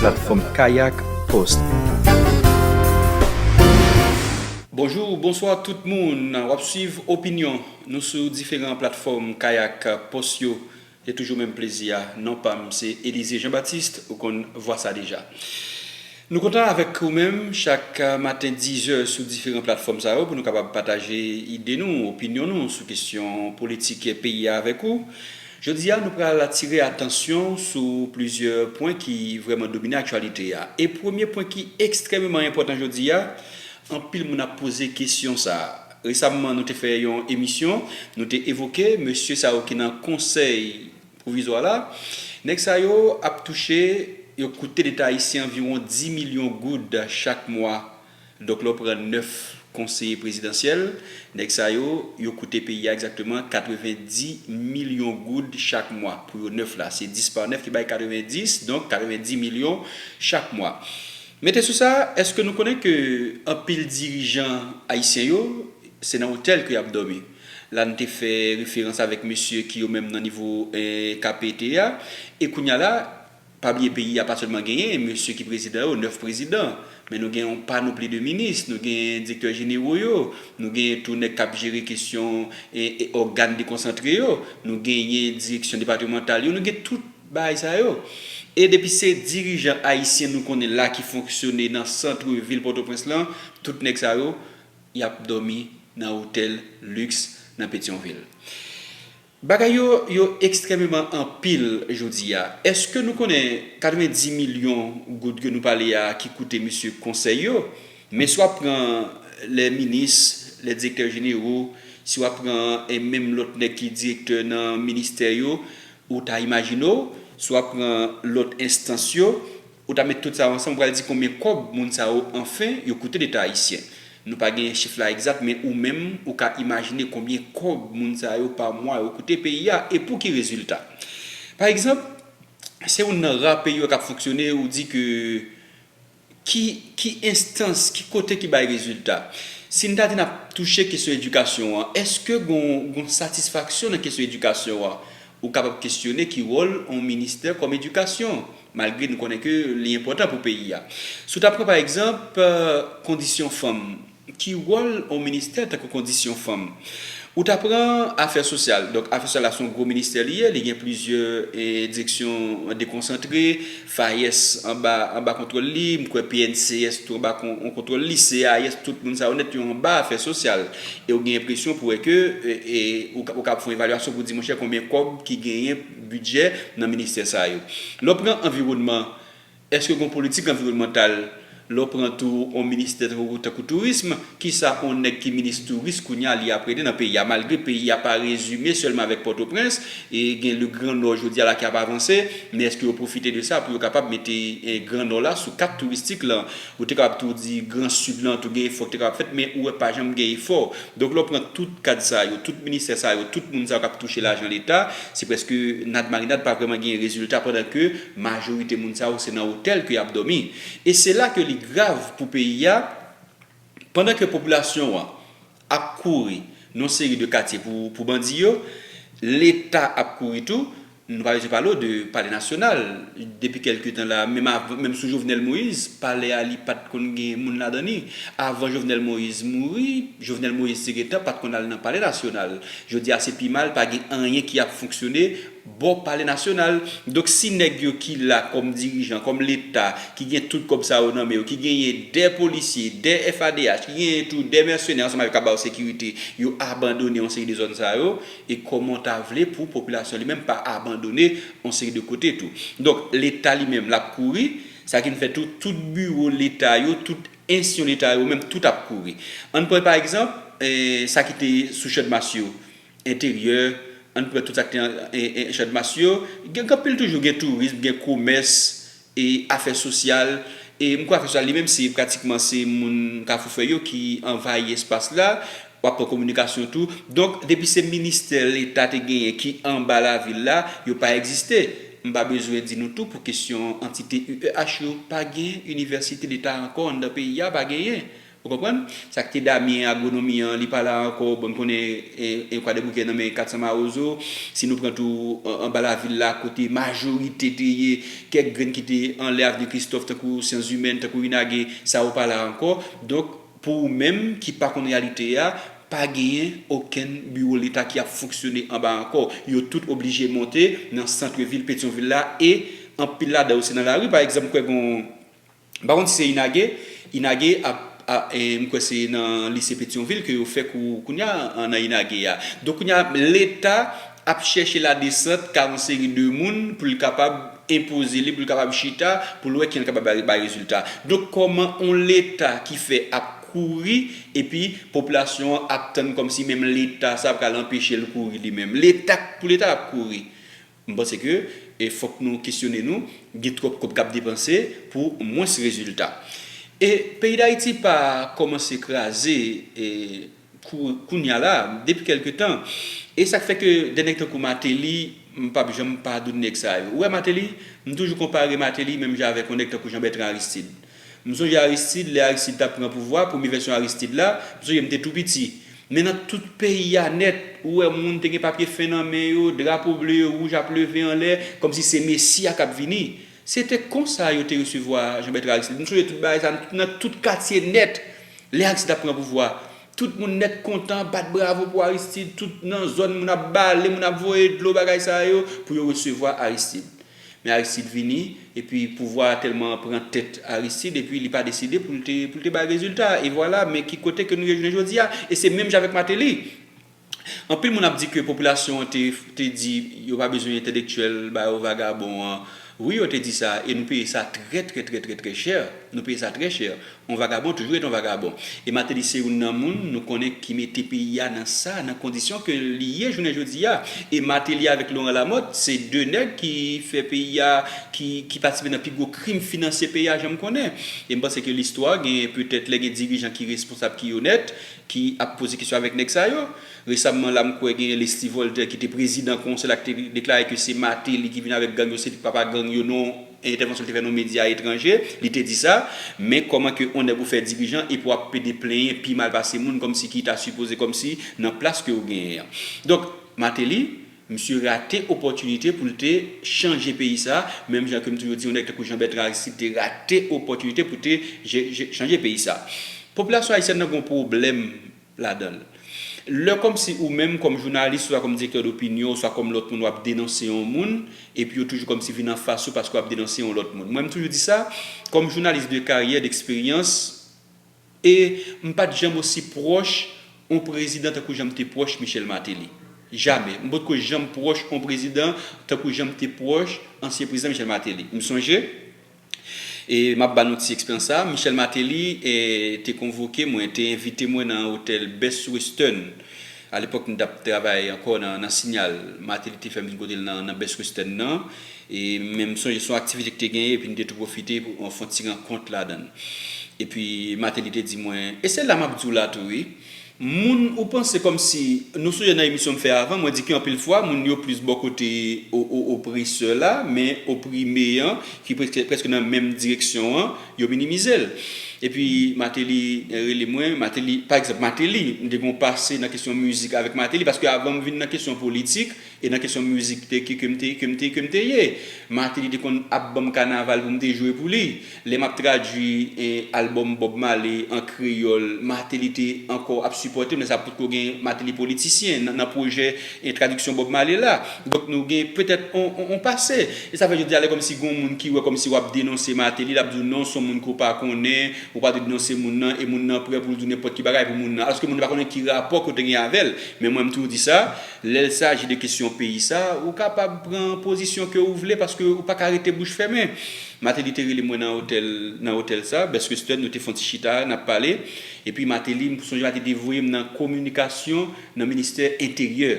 Platfòm Kayak Post. Bonjou, bonswa tout moun. W ap swiv opinyon nou sou diferan platfòm Kayak Post yo. Se toujou menm plezi a. Non pa m se Elize Jean Baptiste, ou konn vwa sa deja. Nou kontan avèk ou menm chak maten dizè sou diferan platfòm sa yo pou nou kapab pataje ide nou, opinyon nou sou kesyon politik peyi a avèk ou. Jodi a, nou pral atire atansyon w sou plizyè pwen ki vrèman domine aktyalite a. E premye pwen ki ekstrèmeman enpòtan jodi a, anpil moun ap poze kesyon sa a. Resamman nou te fè yon emisyon, nou te evoke mesye sa yo ki nan konsèy pwovizwa la. Nèg sa yo ap touche, yo koute Leta ayisyen anviwon 10 milyon goud chak mwa. Dòk lè w pran 9 konseye prezidansyèl, nèg sa yo, yo koute peyi a egzakteman 90 milyon goud chak mwa. Pou yo 9 la, se 10 pa 9 ki bay 90, donk 90 milyon chak mwa. Mete sou sa, èske nou konnen ke anpil dirijan ayisyen yo, se nan otèl ke y ap dòmi? La n te fè referans avèk mesye ki yo menm nan nivo 1 KPT a, e kounye a la, Pa bliye peyi a pa sèlman genyen mesye ki prezidan yo, 9 prezidan, men nou gen yon panopli de minis, nou gen direktè jenero yo, nou genyen tou nèg k ap jere kesyon ògàn dekonsantre yo, nou genyen direksyon depatemantal yo, nou gen tout bagay sa yo. E depi se dirijan ayisyen nou konnen la ki fonksyone nan santre vil Pòtoprens lan, tout nèg sa yo y ap dòmi nan otèl liks nan Petyonvil. Bagay yo yo ekstrèmeman anpil jodi a. Èske nou konnen 90 milyon goud ke nou pale a ki koute mesye konsèy yo? Men si w ap pran lè minis, lè direktè jenero, si w ap pran e menm lòt nèg ki direktè nan ministè yo, ou ta imajine w, si w ap pran lòt enstans yo, Ou ta met tout sa yo ansanm ou pral di konbyen kòb moun sa yo anfen yo koute leta ayisyen. Nou pa genyen chif la egzat men ou menm ou ka imajine konbyen kòb moun sa yo pa mwa yo koute peyi a e pou ki rezilta. Pa egzanp, se yon nan ra peyi yo k ap fonksyone ou di ke ki ki enstans, ki kote ki bay rezilta. Si n ta di n ap touche kesyon edikasyon an, èske gon gon satisfaksyon nan kesyon edikasyon an? Ou kapab kesyone ki wòl on ministè kòm edikasyon, malgre nou konnen ke li enpòtan pou peyi a. Si w ta pran pa egzanp, kondisyon fanm, ki wòl on ministè tankou kondisyon fanm? Ou ta pran afè sosyal, donk afè sosyal la son gwo ministè li ye, li gen plizyè direksyon dekonsantre, FAES anba anba kontwòl li, m kwè PNCS tou anba kon on kontwòl li, CAES tout moun sa yo nèt yo anba afè sosyal e ou gen enpresyon pou wè ke e ou ka ou ka ap fè yon evalyasyon pou di monchè konbyen kòb ki genyen bidjè nan ministè sa yo. Lè w pran anviwònman, èske gen yon politik anviwònmantal? Lè w pran tou on ministè tankou tourism, kisa on nèg ki minis touris kounya li ap regle nan peyi a? Malgre peyi a pa rezime sèlman avèk Pòtoprens, e gen le gran nò jodi a la ki ap avanse, men eske yo pwofite de sa pou yo kapab mete gran nò la sou kat touristik lan? Ou te kapab tou di gran sid lan tou gen efò ki te kapab fèt, men ou wè pa janm gen efò. Donk lè w pran tout kad sa yo, tout ministè sa yo, tout moun sa yo k ap touche lajan leta, se prèske nad marinad pa vrèman gen rezilta pandan ke majorite moun sa yo se nan otèl ke y ap dòmi. E se la ke li grav pou peyi a, pandan ke popilasyon an ap kouri nan yon seri de katye pou bandi yo, leta ap kouri tou, nou pa bezwen pale w de palè nasyonal, depi kèlke tan la, menm sou Jovenel Moïse, palè a li pat konn gen moun ladan li, avan Jovenel Moïse mouri, Jovenel Moïse te gentan pat konn al nan palè nasyonal, jodi a se pi mal, pa gen anyen ki ap fonksyone. bò pale nasyonal. Donk si nèg yo ki la kòm dirijan, kòm leta, ki gen tout kòb sa yo nan men yo, ki genyen 2 polisye, 2 FADH, ki genyen tou 2 mèsenè ansanm avèk k ap ba yo sekirite, yo abandone yon seri de zòn sa yo, e kòman w ta vle pou popilasyon li menm pa abandone yon seri de kote tou. Donk leta li menm l ap kouri, sa ki vin fè tou tout biwo leta yo, tout ensyon leta yo menm tout ap kouri. Ann pran pa egzanp, sa ki te sou Chandmas yo. Enteryè, An n pran tout sa k te an Chadmas yo. Gen anpil toujou, gen tourism, gen komès, e afè sosyal. E m kwè afè sosyal li menm se pratikman se moun Kafoufèy yo ki anvayi espas la. W ap pran kominikasyon tou. Donk, depi se ministè Leta te genyen ki anba lavil la, yo pa egziste. M pa bezwen di nou tou pou kesyon antite UEH yo, pa gen inivèsite Leta ankò anndan peyi a, pa genyen. Ou konprann? Sa ki te Damien, agwonomi an, li pa la ankò, bon n konnen e Kwadèboukè nan men 400 mawozo, si nou pran tou anba lavil la kote majorite te ye, kèk grenn ki te anlè Avni Kristòf tankou Syanzimèn, tankou Inage, sa yo pa la ankò. Donk, pou ou menm ki pa konn reyalite a, pa genyen okenn biwo leta ki ap fonksyone anba ankò. Yo tout oblije monte nan santre vil Petyonvil la e anpil ladan yo se nan lari. Pa egzanp, m kwè gen yon. M pa konn si se Inage, Inage ap m kwè se nan lise Petyonvil ke yo fè kou kounye a nan Inage a. Donk kounye a leta ap chèche ladesant ka yon seri de moun pou l kapab enpoze li, pou l kapab chita, pou l wè kijan l kapab bay rezilta. Donk kòman yon leta ki fè ap kouri epi popilasyon an ap tann kòmsi menm leta sa pral anpeche l kouri li menm. Leta pou leta ap kouri. M panse ke fòk nou kesyone nou, gen twòp kòb kap depanse pou mwens rezilta. E peyi Dayiti pa kòmanse kraze kounya la, depi kèlke tan. E sak fè ke de nèg tankou Mateli, m pap janm padoun nèg sa yo. Ou wè Mateli, m toujou konpare Mateli menm jan avèk yon nèg tankou Jean Bertrand Aristide. M sonje Aristide, lè Aristide tap pran pouvwa, premye vèsyon Aristide la, m sonje m te tou piti. Men nan tout peyi a nèt, ou wè moun te gen papye fen nan men yo, drapo ble e wouj ap leve anlè, kòmsi se Mesi a kap vini. Se te konsa yo te resevwa Jean Bertrand Aristide. M sonje tout bagay sa nan tout katye nèt, lè Aristide ap pran pouvwa. Tout moun nèt kontan, bat bravo pou Aristide, tout nan zòn moun ap bale, moun ap voye dlo, bagay sa yo, pou yo resevwa Aristide. Men Aristide vini, epi pouvwa a tèlman pran tèt Aristide, epi li pa deside pou l te pou l te bay rezilta, e vwala, men ki kote ke nou ye jounen jodi a. E se menm jan avèk Mateli. Anpil moun ap di ke popilasyon an te te di yo pa bezwen entèlektyèl, ba yo vagabon an. Wi yo te di sa, e nou peye sa trè trè trè trè trè chè, nou peye sa trè chè. On vagabon toujou ret on vagabon. E Martelly se youn nan moun nou konnen ki mete peyi a nan sa, nan kondisyon ke li ye jounen jodi a. E Martelly avèk Laurent Lamothe se 2 nèg ki fè peyi a, ki ki patisipe nan pi gwo krim finansye peyi a janm konnen. E m panse ke listwa gen petèt lè gen dirijan ki responsab ki onèt, ki ap poze kesyon avèk nèg sa yo. Resamman la m kwè gen Leslie Voltaire ki te prezidan konsèy la ki te deklare ke se Martelly ki vin avèk gang yo se li ki papa gang yo non entèvansyon l te fè nan yon medya etranje, li te di sa, men kòman ke yon nèg ou fè dirijan epi wap pede plenyen pi mal pase moun kòmsi ki ta sipoze kòmsi nan plas ke ou genyen an. Donk, Martelly, misye rate opòtinite pou l te chanje peyi sa, menm jan ke m toujou di yon nèg tankou Jean Bertrand Aristide te rate opòtinite pou te chanje peyi sa. Popilasyon ayisyèn nan gen yon pwoblèm, ladan l. Lè kòmsi ou menm kòm jounalis oswa kòm direktè dopinyon oswa kòm lòt moun w ap denonse yon moun epi yo toujou kòmsi vin anfas ou paske w ap denonse yon lòt moun. Mwen m toujou di sa, kòm jounalis de karyè, d'eksperyans e m pa t janm osi pwòch on prezidan tankou jan m te pwòch Michel Martelly. Jamè. M potko janm pwòch on prezidan tankou jan m te pwòch ansyen prezidan Michel Martelly. M sonje. E m ap ba nou ti eksperyans sa a, Michel Martelly te konvoke mwen, te envite mwen nan otèl Best Western. Alepòk m t ap travay ankò nan Sinyal. Martelly te fè m vin kote l nan Best Western nan. E men m sonje se yon aktivite ki te genyen epi nou te tou pwofite pou nou fè yon ti rankont ladan l. Epi Martelly te di mwen, e se la m ap di w la tou wi, Moun ou panse kòmsi nou sonje nan emisyon m fè avan mwen di ke anpil fwa moun yo plis bò kote opresè la men oprime an ki prèske nan menm direksyon an yo minimize l epi Mateli rele mwen Mateli pa egzanp Mateli m te gen yon pase nan kesyon mizik avèk Mateli paske avan m vin nan kesyon politik E nan kesyon mizik te ke ke m te ke m te ke m te ye. Martelly te konn ap ban m kanaval pou m te jwe pou li. Lè m ap tradui albòm Bob Marley an kreyòl, Martelly te ankò ap sipòte m. Lè sa a potko gen Martelly politisyen nan nan pwojè tradiksyon Bob Marley la. Donk nou gen petèt on on pase. E sa fè jodi a lè kòmsi gen yon moun ki wè kòmsi w ap denonse Martelly, l ap di w non s on moun ke w pa konnen, ou pa dwe denonse moun nan e moun nan prè pou l di w nenpòt ki bagay pou moun nan. Alòske moun nan pa konnen ki rapò ke w te gen avè l. Men mwen m toujou di sa. Lèl saji de kesyon peyi sa, ou kapab pran pozisyon ke ou vle paske ou paka rete bouch fèmen. Mateli te rele mwen nan otèl nan otèl sa, Best Western, nou te fon ti chita, nap pale. Epi Mateli, m sonje Mateli te voye m nan kominikasyon nan ministè enteryè.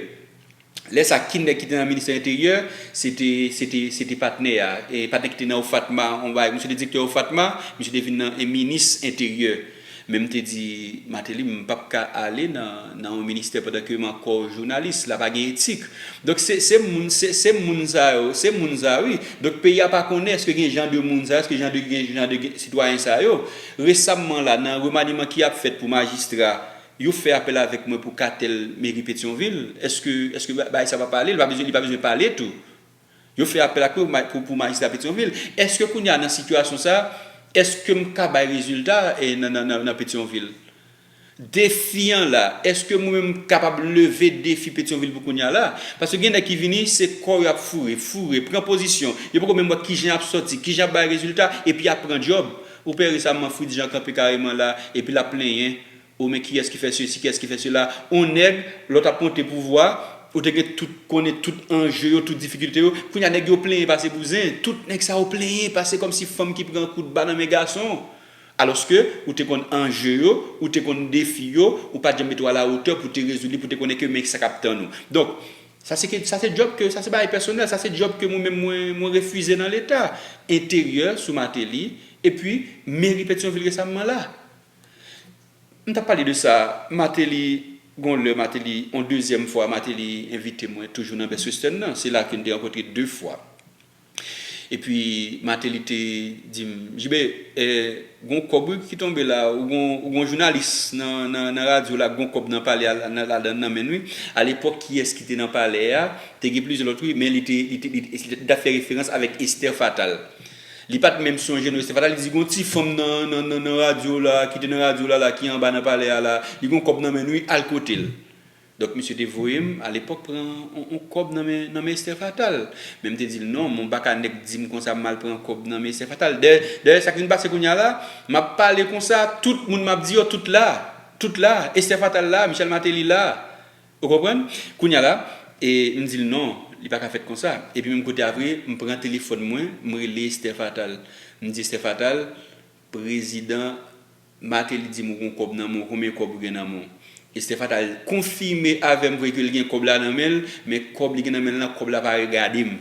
Lè sa ki nèg ki te nan ministè enteryè, se te se te se te patnè a, patnè ki te nan OFATMA, on bagay, misye te direktè OFATMA, misye te vin nan minis enteryè. Men m te di Mateli m pap ka ale nan yon ministè pandan ke m ankò jounalis, la pa gen etik. Donk se se moun se se moun sa yo, se moun sa wi. Donk peyi a pa konnen eske gen jan de moun sa yo, eske jan de gen jan de gen sitwayen sa yo. Resamman la nan remaniman ki ap fèt pou majistra, yo fè apèl avèk mwen pou katèl meri Petyonvil. Eske eske bagay sa pa pale, li pa bezwen li pa bezwen pale tou. Yo fè apèl ak ou pou majistra Petyonvil. Eske kounye a nan sitiyasyon sa a, eske m ka bay rezilta nan Petyonvil? Defi an la, eske mwen menm m kapab leve defi Petyonvil pou kounye a la? Paske gen nèg ki vini, se kò yo ap foure, foure, pran pozisyon. Yo poko menm wè kijan y ap sòti, kijan y ap bay rezilta, epi y ap pran djòb. Ou pè resamman Fritz Jean kanpe kareman la, epi l ap plenyen. O men kiyès ki fè sesi, kiyès ki fè sela. On nèg, lòt ap monte pouvwa, ou te gen tout, konnen tout anje yo, tout difikilte yo. Kounye a nèg yo plenyen pase bouzen. Tout nèg sa yo plenyen pase kòmsi fanm ki pran kout ba nan men gason. Alòske, ou te konn anje yo, ou te konn defi yo, ou pa t janm mete w a la hauteur pou te rezoud li, pou te konnen ke men sa k ap tann ou. Donk, sa se ke, sa se djòb ke, sa se bagay pèsonèl, sa se djòb ke mwen menm mwen, mwen refize nan leta. Enteryè sou Mateli, epi meri Petyonvil resamman la. M tap pale de sa Martelly gon lè Martelly yon dezyèm fwa Martelly envite mwen toujou nan Best Western nan se la ke n te rankontre 2 fwa epi Martelly te di m JB gon kòb wi ki tonbe la ou gon jounalis nan radyo la k gon kòb nan palè a ladan nan men n wi alepòk kiyès ki te nan palè a te gen plizyè lòt wi men li te li tap fè referans avèk Esther Fatal. Li pat menm sonje non, se pata li di gon ti fanm nan radyo la, ki te nan radyo la la, ki anba nan palè a la, li gon kòb nan menn wi, al kotel. Donk misye te voyem alepòk pran on kòb nan men Esther Fatal. Men mte dil non, bon baka nèg dim konsa mal pran kòb nan men Esther Fatal. Dayè sak vin pase kounya la, map pale konsa, tout moun map di yo tout la, tout la, Esther Fatal la, Michel Martelly la, Ou konprann? Kounye a la, e, m di l non, li pa ka fèt konsa. Epi menm kote a vre, m pran telefòn mwen, m rele Esther Fatal. M di Esther Fatal, Prezidan Martelly di m ou gen yon kòb nan men w, konbyen kòb ou gen nan men w? Esther Fatal konfime avè m vre ke l gen kòb la nan men l, men kòb li gen nan men l lan, kòb la pa regade m.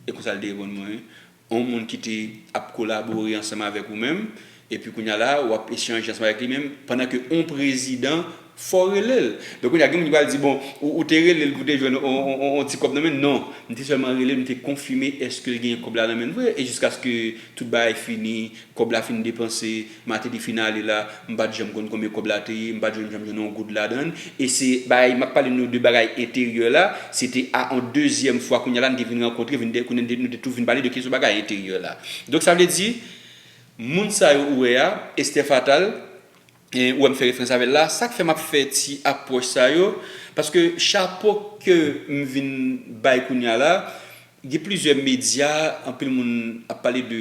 E konsa l te reponn mwen, yon moun ki te ap kolabore ansanm avèk ou menm, epi kounye a la ou ap echanje ansanm avèk li menm, pandan ke yon prezidan fò w rele l. Donk kounye a gen moun ki pral di, bon, ou te rele l pou w te jwenn yon ti kòb nan men l. Non, m te sèlman rele l, m te konfime èske l gen kòb la nan men l vre, e jiskaske tout bagay fini, kòb la fin depanse, Mateli fin ale la m pat janm konn konbyen kòb la te ye, m pat janm jwenn yon goud ladann e se bagay map pale nou de bagay enteryè la se te a yon dezyèm fwa kounya la nou te vin rankontre vin de kounya nou te tou vin pale de kesyon bagay enteryè la donk sa vle di moun sa yo ou wè a Esther Fatal e ou wè m fè referans avèl la sak fè map fè ti apwòch sa yo paske chapo ke m vin bay kounya la. Gen plizyè medya, anpil moun ap pale de,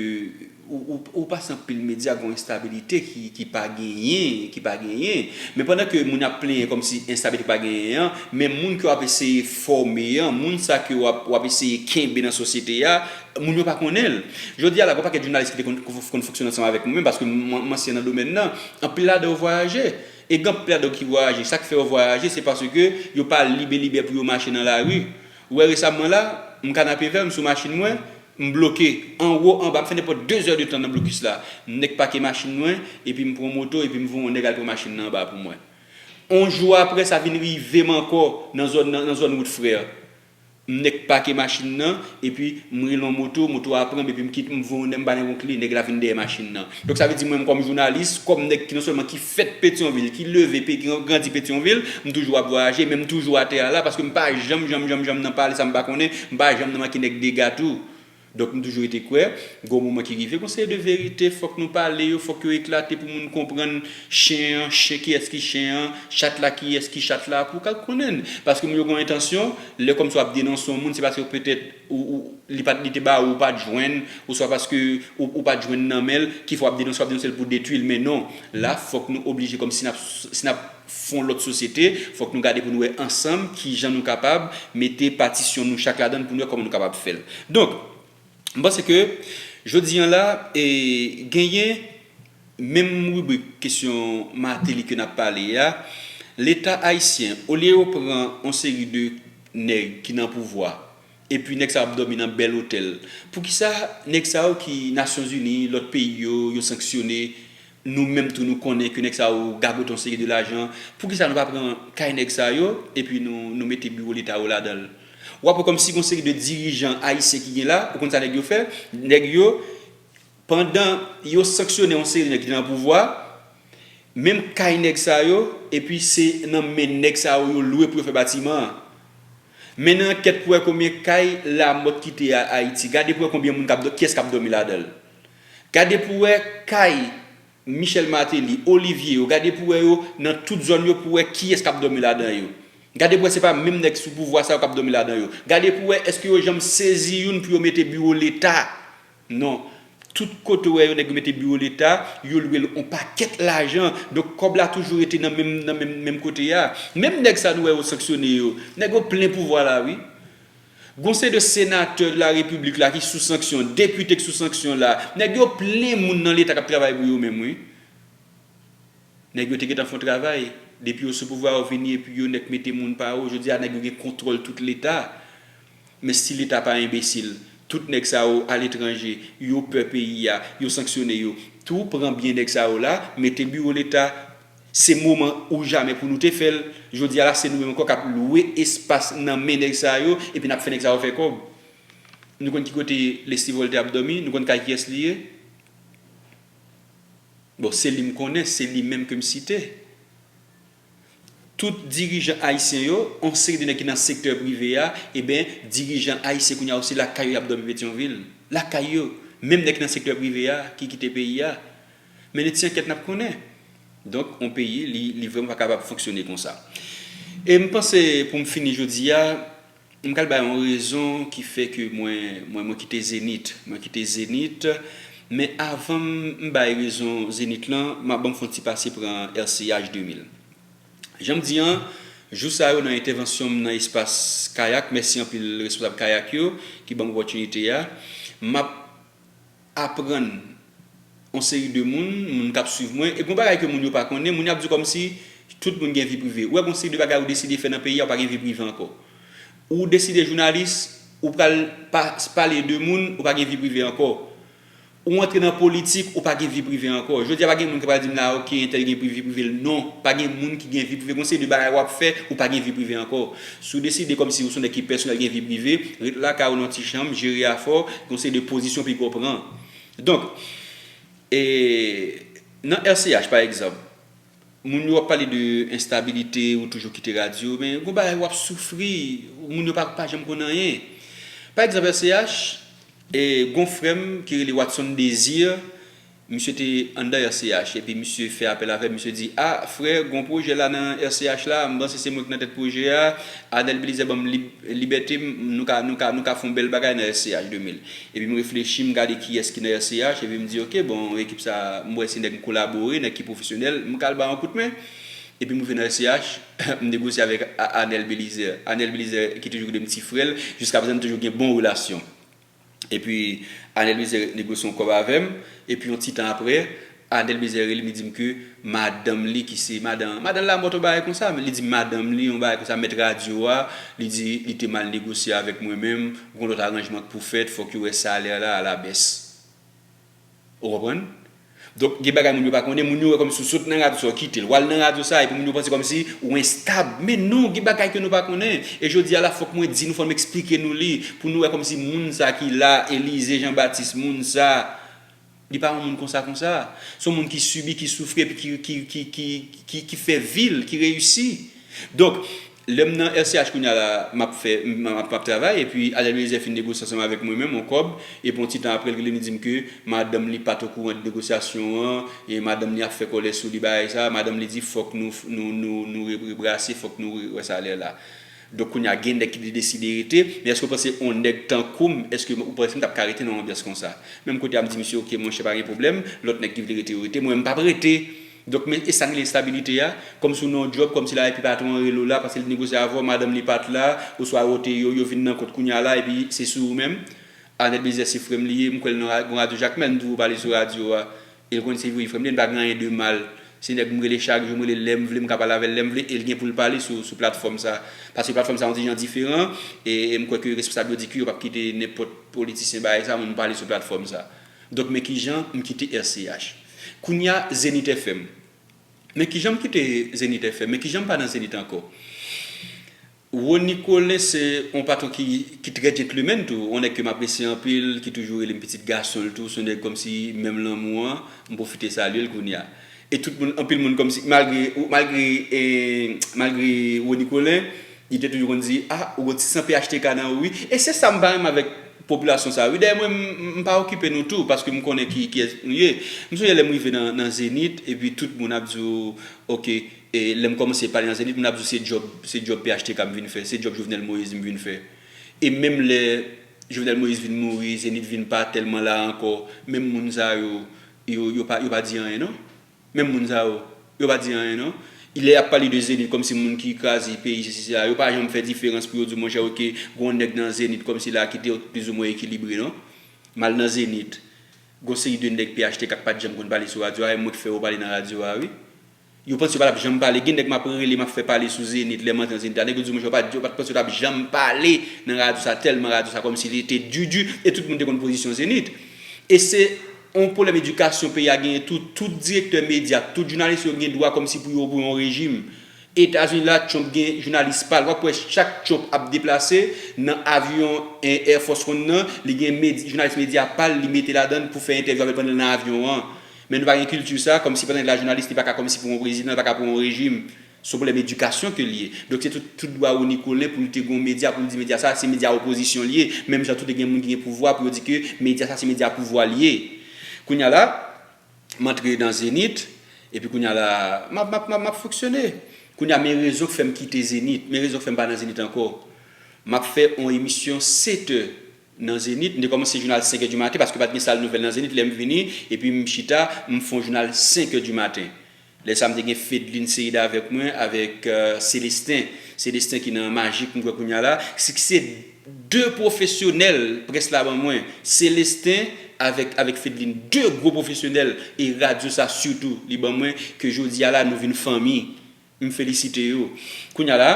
ou pase anpil medya gon enstabilite ki pa genyen, ki pa genyen. Men pandan ke moun ap plenyen kòm si enstabilite pa genyen an, men moun ke w ap eseye fòme an, moun sa ke w ap eseye kenbe nan sosyete a, moun yo pa konnen l. Jodi a la, gon pakèt jounalis ki te konn fonksyone ansanm avèk mwen menm, paske m ansyen nan domèn nan, anpil ladan yo vwayaje. E gen anpil ladan yo ki vwayaje, sa k fè yo vwayaje, se paske yo pa libelibè pou yo mache nan lari. Ou wè resam mwen la, m kanapevè, m sou machin mwen, m bloke, anwo, anba, m fè nenpòt 2 zè de tan nan blokis la. Nèk pake machin mwen, epi m pran moto, epi m voye yon nèg al pran machin nan anba pou mwen. On jou aprè, sa vin rive m ankò nan zòn nan, nan zòn wout frè. M nèk pake machin nan, epi m rele yon moto, moto a pran m epi m kite, m voye yon nèg, m ba nèg yon kle, nèg la vin dèyè machin nan. Donk sa vle di mwenm kòm jounalis, kòm nèg ki non sèlman ki fèt Petyonvil, ki leve, pe ki grandi Petyonvil, m toujou ap vwayaje, men m toujou atè a la, paske m pa janm janm janm janm nan pale sa m pa konnen, m pa janm nan manke nèg dega tou. Donk m toujou rete kwè, gon moman ki rive, gon seri de verite fòk nou pale yo, fòk yo eklate pou moun konprann chen an, chen kiyès ki chen an, chat la kiyès ki chat la, pou w ka konnen l. Paske moun yo gon entansyon, lè kòmsi w ap denonse yon moun, se paske petèt, li pat li te ba ou ou pat jwenn oswa paske ou pat jwenn nan men l ki fè w ap denonse w ap denonse l pou detwi l men non la fòk nou oblije kòm si n ap si n ap fon lòt sosyete fòk nou gade pou nou wè ansanm kijan nou kapab mete patisyon nou chak ladan l pou nou wè kòman nou kapab fè l donk m panse ke jodi an la e genyen Menm ribrik kesyon Martelly ke nap pale a, leta ayisyen olye yo pran on seri de nèg ki nan pouvwa epi nèg sa yo ap dòmi nan bèl otèl, poukisa nèg sa yo ki nasyon zini, lòt peyi yo, yo sanksyone, nou menm tou nou konnen ke nèg sa yo gagote on seri de lajan, poukisa nou pa pran kay nèg sa yo epi nou mete biwo leta yo ladan l? Wap wè kòmsi gon seri de dirijan ayisyen ki gen la, ou konn sa nèg yo fè? Nèg yo. Pandan yo sanksyone yon seri nèg ki te nan pouvwa, menm kay nèg sa yo, epi se nan men nèg sa yo yo lwe pou yo fè batiman an. Mennen ankèt pou wè konbyen kay Lamòt kite a Ayiti. Gade pou wè konbyen moun kap, kiyès kap dòmi ladan l. Gade pou wè kay Michel Martelly, Olivier yo, gade pou wè yo nan tout zòn yo pou wè kiyès kap dòmi ladan yo. Gade pou wè se pa menm nèg sou pouvwa sa yo kap dòmi ladan yo. Gade pou wè èske yo janm sezi youn pou yo mete biwo leta. Non. Tout kote ou wè yo nèg yo mete biwo leta, yo lwe l on pakèt lajan. Donk kòb la toujou rete nan menm nan menm menm kote a. Menm nèg sa nou wè yo sanksyone yo, nèg yo plen pouvwa la wi. Gon se de senatè la repiblik la ki sou sanksyon, depite k sou sanksyon la. Nèg yo plen moun nan leta k ap travay pou yo menm wi. Nèg yo te gentan fon travay, depi yo sou pouvwa yo vini epi yo nèk mete moun pa yo, jodi a nèg yo gen kontwòl tout leta. Men si leta pa enbesil, tout nèg sa yo al etranje, yo pè peyi a, yo sanksyone yo tou, pran byen nèg sa yo la, mete biwo leta, se moman ou jamè pou nou te fè l, jodi a la se nou menm ankò k ap lwe espas nan men nèg sa yo epi n ap fè nèg sa yo fè kòb. Nou konn ki kote Leslie Voltaire ap dòmi, nou konn kay kiyès li ye? Bon se li m konnen, se li menm ke m site. Tout dirijan ayisyen yo, yon seri de nèg ki nan sektè prive a, eben dirijan ayisyen kounye a yo se lakay yo y ap dòmi Petyonvil. Lakay yo. Menm nèg ki nan sektè prive a ki kite peyi a. Men n ti ankèt n ap konnen. Donk yon peyi li vrèman pa kapab fonksyone konsa. E m panse pou m fini jodi a. M pral bay yon rezon ki fè ke mwen mwen kite Zenith. Mwen kite Zenith, men avan m m bay rezon Zenith lan, m ap ban m fè yon ti pase pran RCH 2000. Jan m di an, jou sa yo nan entèvansyon m nan espas Kayak, mèsi anpil responsab Kayak yo ki ban m opòtinite a, m ap. aprann on seri de moun, moun kap swiv mwen, epi on bagay ke moun yo pa konnen, moun yo ap di kòmsi tout moun gen vi prive. Ou wè gon seri de bagay ou deside fè nan peyi a ou pa gen vi prive ankò. Ou deside jounalis, ou pral pa pale de moun, ou pa gen vi prive ankò. Ou antre nan politik, ou pa gen vi prive ankò. Jodi a pa gen moun ki pral di m la ok entèl gen vi prive l, non, pa gen moun ki gen vi prive, gon seri de bagay wap fè, ou pa gen vi prive ankò. Si w deside kòm si ou s on nèg ki pèsonèl gen vi prive, ret lakay ou nan ti chanm, jere afè w, gen yon seri de pozisyon piga w pran. Donk, e nan RCH pa egzanp, moun yo ap pale de enstabilite, ou toujou kite radyo, men gen yon bagay w ap soufri, moun yo pa janm konn anyen. Pa egzanp RCH, e gen yon frè m ki rele Watson Désir, Misye te anndan RCH epi misye fè apèl avè m, misye di, A, frè, gen yon pwojè la nan RCH la, m panse se mwen ki nan tèt pwojè a, Adèl Belizè ban m lib, libète m, nou ka, nou ka, nou ka fè yon bèl bagay nan RCH 2000. Epi m reflechi, m gade kiyès ki nan RCH, epi m di, ok, bon, ekip sa a, m wè se nèg m kolabore, nèg ki pwofesyonèl, m ka al ba yo yon kout men. Epi m rive nan RCH, m negosye avèk Anèl Belizè. Anèl Belizè ki toujou rele m ti frè l, jiskaprezan n toujou gen bon relasyon. Epi Anel Mize negosye yon kòb avè m, epi yon ti tan aprè, Anel Mize rele m, li di m ke madanm li ki se madan, madan Lamòt yon bagay konsa, li di m madanm li yon bagay konsa, mèt radyo a, li di li te mal negosye avèk mwen menm, gon lòt aranjman k pou fèt, fòk yo wè salè la alabès. Ou konprann? Donk gen bagay moun yo pa konnen, moun yo wè kòmsi ou sot nan radyo sa ou kite l, w al nan radyo sa epi moun yo panse kòmsi ou enstab. Men non, gen bagay ke nou pa konnen. E jodi a la fòk mwen di nou, fòk m eksplike nou li, pou nou wè kòmsi moun sa ki la, Elize Jean Baptiste, moun sa, li pa yon moun konsa konsa. Se yon moun ki sibi, ki soufri epi ki fè vi l, ki reyisi. Donk, Lèm nan RCH kounya la map fè map travay epi Alè Eliezer fin negosye ansanm avèk mwen menm on kòb epi on ti tan aprè l rele m li dim ke madanm li pat okouran de negosyasyon an e madanm li ap fè kòlè sou li bagay sa madanm li di fòk nou nou nou nou rebrase fòk nou wè sa lè la donk kounya gen nèg ki te deside rete men èske w panse on nèg tankou m èske ou panse m tap ka rete nan on anbyans konsa menm kote a m di misye ok monchè pa gen pwoblèm lòt nèg ki vle rete yo rete mwen m pap rete Donk men esa rele estabilite a, kòm si w nan yon djòb, kòm si la epi patwon an rele w la paske li te negosye avè w, madanm li pat la, oswa yo te yo vin nan kont kounya la epi se sou ou menm. Arnel Belizaire se frè m li ye, m kwè l nan ra yon radyo Jakmèl, m toujou pale sou radyo a e l konnen se wi frè m li ye, n pa gen anyen de mal. Se nèg m rele chak jou, m rele l lè m vle, m ka pale avè l lè m vle e l gen pou l pale sou sou platfòm sa. Paske platfòm sa yon ti jan diferan e m kwè ke responsab yo di ke yo pap kite nenpòt politisyen bay sa moun pale sou platfòm sa. Donk men kijan m kite RCH. Kounya Zenith FM. Men kijan m kite Zenith FM. Men kijan m pa nan Zenith ankò. Rony Colin se yon patwon ki trè djentlemèn tou. Yon nèg ke m apresye anpil, ki toujou rele m pitit gason l tou. Se yon nèg kòmsi menm lanmou an, m pwofite salye l kounya. E tout moun, anpil moun kòmsi, malgre, malgre, malgre Rony Colin, li te toujou konn di, ah ou gen yon ti san phtk nan ou wi. E se sa m pa renmen avèk Popilasyon sa wi dèyè mwen m pa okipe nou tou paske m konnen ki kiyès nou ye m sonje lèm rive nan zenit epi tout moun ap di w ok lèm kòmanse pale nan zenit moun ap di w se djòb se djòb phtk m vin fè se djòb jovenel moïse m vin fè e menm lè jovenel moïse vin mouri zenit vin pa tèlman la ankò menm moun sa yo yo pa di anyen non. Menm moun sa yo, yo pa di anyen non. Lè yap pale de Zenith kòmsi moun ki kraze peyi sesi sela, yo pa janm fè diferans pou yo di monchè ok gon nèg nan Zenith kòmsi la ki te plizoumwen ekilibre non. Mal nan Zenith, gon seri de nèg phtk k pat janm konn pale sou radyo a e mwen k fè yo pale nan radyo a wi. Yo panse yo patap janm pale, gen nèg map rele map fè pale sou Zenith lèm antre nan Zenith la, nèg yo di monchè yo pat panse yo tap janm pale nan radyo sa tèlman radyo sa kòmsi li te di di e tout moun te konn pozisyon Zenith. E se. On pwoblèm edikasyon peyi a genyen tou, tout direktè medya ak tout jounalis yo gen dwa kòmsi pou yo pou yon rejim. Etazini la Trump gen jounalis pa l, w ap wè chak Trump ap deplase nan avyon Air Force One nan, li gen med, jounalis medya pa l li mete ladan l pou fè entèvyou avè l pandan l nan avyon an. Men nou pa gen kilti sa, kòmsi pandan li la jounalis li pa ka kòmsi pou yon prezidan, li pa ka pou yon rejim. Son pwoblèm edikasyon ke li ye. Donk se tout tout dwa Rony Colin pou l te gon medya pou l di medya sa se medya opozisyon li ye. Menm jan tou te gen moun ki gen pouvwa pou yo di ke medya sa se medya pouvwa li ye. Kounya la m antre nan Zenith epi kounya la m ap m ap m ap fonksyone. Kounya men rezon k fè m kite Zenith, men rezon k fè m pa nan Zenith ankò. M ap fè yon emisyon setè nan Zenith. M te kòmanse jounal senkè di maten paske pa t gen sal nouvèl nan Zenith lè m vini epi m chita m fon jounal senkè di maten. Lè sa m te gen Fedline Ceide avèk mwen, avèk Celestin, Celestin ki nan Magic m kwè kounya la, siksè 2 pwofesyonèl près la ban mwen, Celestin avèk avèk Fedline 2 gwo pwofesyonèl e radyo sa sitou li ban mwen ke jodi a la nou vin fanmi, m felisite yo. Kounya la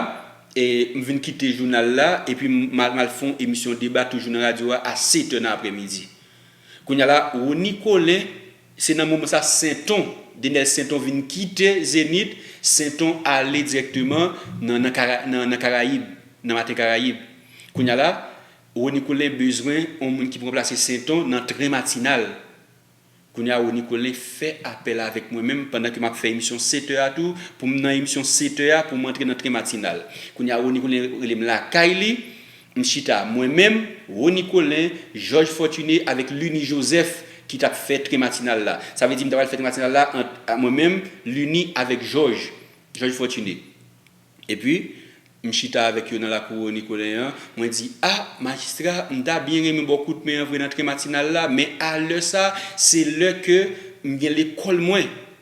e m vin kite jounal la epi m m al m al fè yon emisyon deba toujou nan radyo a a 7 è nan aprèmidi. Kounya la Rony Colin. Se nan moman sa Senton, Denel Senton vin kite Zenit, Senton ale dirèkteman nan nan Karayib, nan Maten Karayib. Kounya la, Rony Colin bezwen yon moun ki pou ranplase Senton nan tren matinal. Kounya Rony Colin fè apèl avèk mwen menm pandan ke map fè emisyon 7 è a tou, pou m nan emisyon 7 è a pou m antre nan tren matinal. Kounya Rony Colin rele m lakay li, M chita, mwen menm, Rony Colin, Jòj Fòtine avèk Lunie Joseph ki t ap fè tren matinal la. Sa vle di m t apral fè tren matinal la ant mwen menm, Lunie avèk Jòj, Jòj Fòtine. Epi, m chita avèk yo nan lakou Rony Colin an, mwen di, A, majistra, m ta byen renmen ba w kout men an vre nan tren matinal la, men a lè sa, se lè ke m gen lekòl mwen.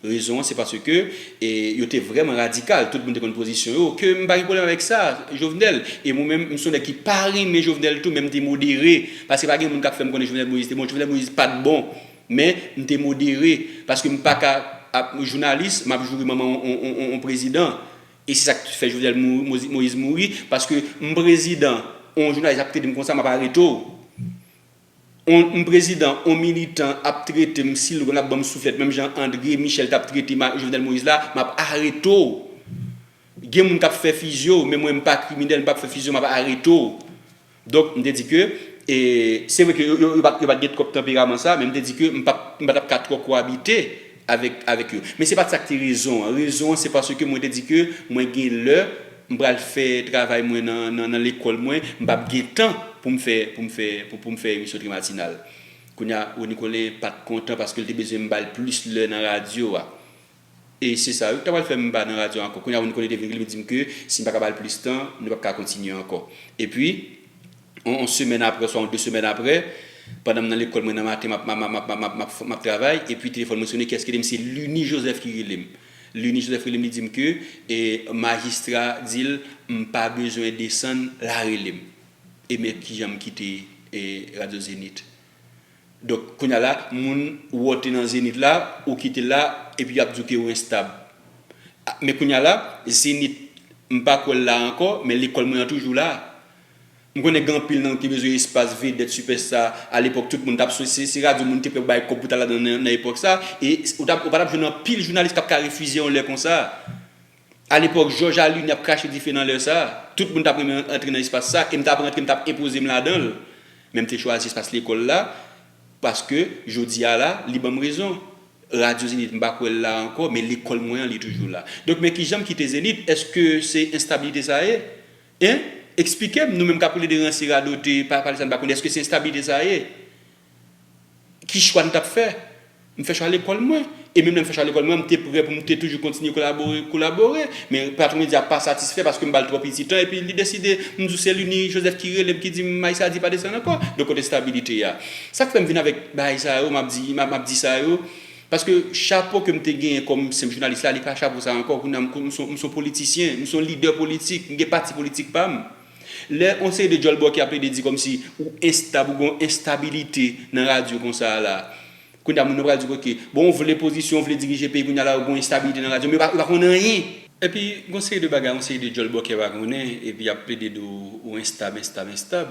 Rezon an se paske yo te vrèman radikal, tout moun te konn pozisyon yo, ke m pa gen pwoblèm avèk sa, Jovenel, e mwen menm m son nèg ki pa renmen Jovenel tou men m te modere, paske pa gen moun k ap fè m konnen Jovenel Moïse te bon, Jovenel Moïse pa t bon, men m te modere, paske m pa ka ap jounalis, m ap joure manman yon prezidan, e se sa k fè Jovenel Moïse mouri, paske m prezidan, yon jounalis ap trete m konsa m ap arete w. On prezidan, on militan ap trete m sil lap banm souflèt menm jan Andre Michel tap trete Jovenel Moïse la map arete w gen moun kap fè fizye w men mwen m pa kriminèl m pap fè fizye w map arete w donk m te di ke se vre ke yo pat gen twòp tanperaman sa men m te di ke m patap ka twò kowabite avèk yo. Men se pa t sa k te rezon an. Rezon an se paske mwen te di ke mwen gen lè, m pral fè travay mwen nan lekòl mwen, m p ap gen tan pou m fè pou m fè pou m fè emisyon tri matinal. Kounye a, Rony Colin pa t kontan paske l te bezwen m ba l plis lè nan radyo a. E se sa yo ki ta pral fè m pa nan radyo a ankò. Kounye a Rony Colin te vin rele m di m ke si m pa ka ba l plis tan, nou p ap ka kontinye ankò. Epi. Yon semèn apre oswa yon de semèn apre, pandan m nan lekòl, mwen nan maten m ap travay, epi telefòn mwen sone, kiyès ki rele m? Se Lunie Joseph ki rele m. Lunie Joseph rele m, li di m ke majistra di l m pa bezwen desann Larele m. E men kijan m kite radyo Zenith. Donk, kounye a la, moun ou antre nan Zenith la, ou kite l la, epi y ap di w ke ou enstab. Men kounye a la, Zenith, m pa kwè l la ankò, men lekòl mwen an toujou la. M konnen gen anpil nan nou ki bezwen espas vedèt sipèsta a lepòk tout moun tap sou se radyo moun te pè pou bay kòb pou ta ladan nan epòk sa e ou tap ou pa tap jwenn anpil jounalis kap ka refize yon lè konsa a lepòk jòj a lini ap krache dife nan lè sa tout moun tap renmen antre nan espas sa e m tap rantre m tap enpoze m ladan l men m te chwazi espas lekòl la paske jodi a la li banm rezon radyo zenith m pa kwè l la ankò men lekòl mwen an li toujou la donk men kijan m kite zenith èske se enstabilite sa ye? Hein? Explikem nou menm kap rele de ranse radote pa pale sa nou pa konnen eske se instabilite sa ye? Ki chwa nou tap fè? M fè chwa lekòl mwen e menm lèm fè chwa lekòl mwen an m te prè pou m te toujou kontinye kolabore kolabore men patron mwen di a pa satisfè paske m bal twò piti tan epi li deside m di w se Lunie Joseph ki relem ki di m may sa di pa desann ankò donk kote stabilite a? Sak fè m vin avèk bagay sa yo map di map di sa yo? Paske chapo ke m te genyen kòm senp jounalis la, li pa chapo sa ankò. Kounye a, m son, m son politisyen, m son lidè politik, m gen pati politik pa m. Lè yon seri de djòlbòkè ap plede di kòmsi ou enstab, ou gen yon enstabilite nan radyo konsa a la a. Kounye a, moun yo pral di ok, bon ou vle pozisyon, ou vle dirije peyi, kounye a la ou gen yon enstabilite nan radyo, men yo pa, yo pa konn anyen. Epi, gen yon seri de bagay, yon seri de djòlbòkè pa konnen, epi y ap plede di w ou enstab, enstab, enstab.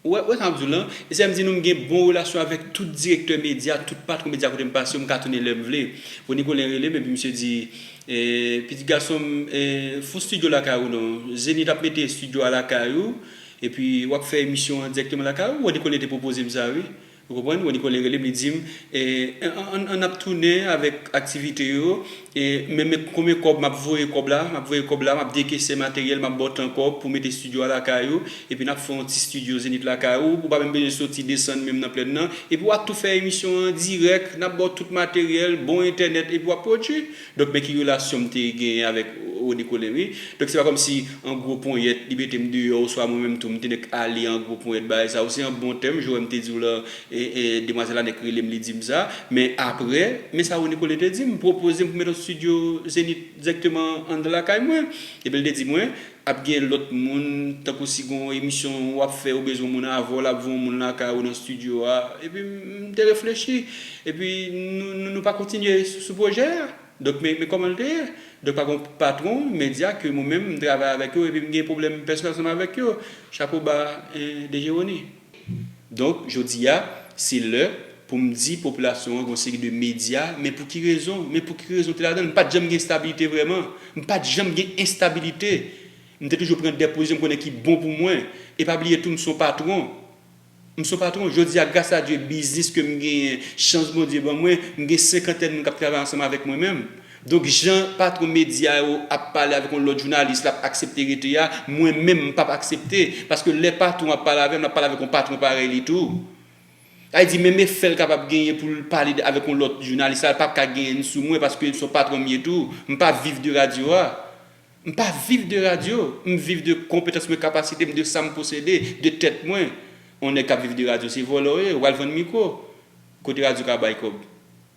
Ou wè, ou wè sa map diw lan, e sèm di nou mgen bon relasyon avèk tout direktè medya, tout patron medya kotem pase yo mka tounen lèm vle. Rony Colin relem epi misye di, pitit gasonm fout studio lakay ou non, Zenith ap mete studio a lakay ou epi wap fè emisyon an dirèkteman lakay ou, Rony Colin te pwopozem sa wi. Ou konprann? Wè Nicole rele m li di m an n ap tounen avèk aktivite yo men konbyen kòb m ap voye kòb la m ap voye kòb la m ap dekese materyèl m ap ba w tan kòb pou w mete stidyo a lakay ou epi n ap fè yon ti stidyo Zenith lakay ou ou pa menm bezwen soti desann menm nan plèn nan epi w ap tou fè emisyon an dirèk n ap ba w tout materyèl bon entènèt epi w ap pwodui. Donk men ki relasyon m te genyen avèk Rony Colin wi. Donk se pa kòm si an gwo ponyèt li mete m deyò oswa mwen menm tou m te nèk ale an gwo ponyèt bagay sa. Ou se an bon tèm, jourèm te di w lan, demwazèl la nèk rele m li di m sa. Men aprè, men sa Rony Colin te di m, pwopoze m pou m mèt yon studio Zénith dirèkteman anndan lakay mwen. Epi l te di mwen, Ap gen lòt moun, tankou si gen yon emisyon w ap fè ou bezwen moun avè w, l ap voye yon moun lakay ou nan stidyo a. Epi m te reflechi. Epi nou pa kontinye sou pwojè a. Donk men kòman l te ye. Donk pa gen yon patwon medya ke mwen menm m travay avèk yo epi m gen pwoblèm pèsonèl ansanm avèk yo. Chapo ba DG Rony. Donk, jodi a, se lè pou m di popilasyon an gen yon seri de medya, men pou ki rezon? Men pou ki rezon te ladan l? M pa t janm gen estabilite vrèman. M pa t janm gen estabilite. M te toujou pran de pozisyon m konnen ki bon pou mwen. E pa bliye tou m se yon patwon. M se yon patwon. Jodi a, gras a Dye, biznis ke m genyen, chans Bondye ban mwen, m gen senkantèn moun k ap travay ansanm avèk mwen menm. Donk jan patron media yo ap pale avek yon lot jounalis lap aksepte rete a mwen menm m pap aksepte paske lè patron ap pale avem lap pale avek yon patron parèy li tou sa vle di menm efè l kapab genyen poul pale avek yon lot jounalis la pap ka genyn sou mwen paske son patron m ye tou m pa viv de radio a m pa viv de radio m viv de konpetans mwen kapasite m de sa m posede de tèt mwen yon nèg kap viv de radio se vòlò w ye ou pral vann mikro kote radio ka bay kob.